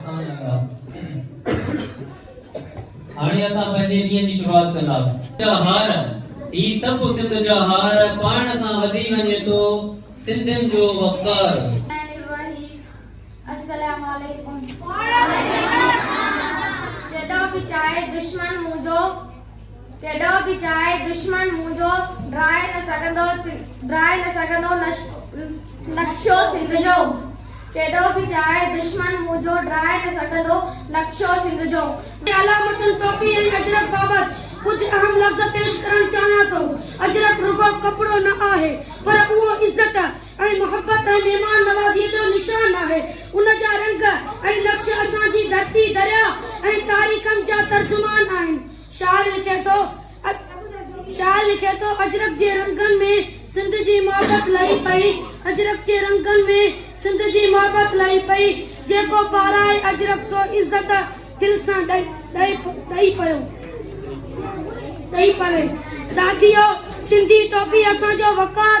هاڻي اسان پنهنجي ڏينهن جي شروعات ڪنداسين هار هي سڀ سنڌ جا هار پاڻ سان وڌي وڃي ٿو سنڌين جو وقار السلام عليڪم جڏهن به چاهي دشمن منهنجو ڪيڏو به چاهي دشمن منهنجو، ڊاهي نه سگهندو ڊاهي نه سگهندو نقشو سنڌ جو ڪيڏو به چاهي دشمن منهنجو، ڊاهي نه سگهندو نقشو سنڌ جو. علامتن ٽوپي ۽ اجرڪ بابت ڪجهه اهم لفظ پيش ڪرڻ چاهيان ٿو. اجرڪ رڳو ڪپڙو نه آهي، پر اهو عزت ۽ محبت ۽ مهمان نوازيء جو نشان آهي. ان جا رنگ ۽ نقش اسان جي ڌرتي، درياهه ۽ تاريخن جا ترجمان آهن. شاعر لکي ٿو، شاعر لکي ٿو، اجرڪ جي رنگن ۾ سنڌ جي محبت لهي پئي، اجرڪ جي رنگن ۾ سنڌ جي محبت لهي پئي، جيڪو پارائي اجرڪ سو عزت دل سان ڏئي پيو، ڏئي پوي. ساٿيو! سنڌي ٽوپي اسان جو وقار.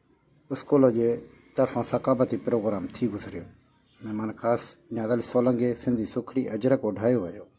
اسڪول جي طرفان ثقافتي پروگرام ٿي گذريو مھمان خاص نياز علي سولنگي سنڌي سکري اجرڪ اوڍايو ويو.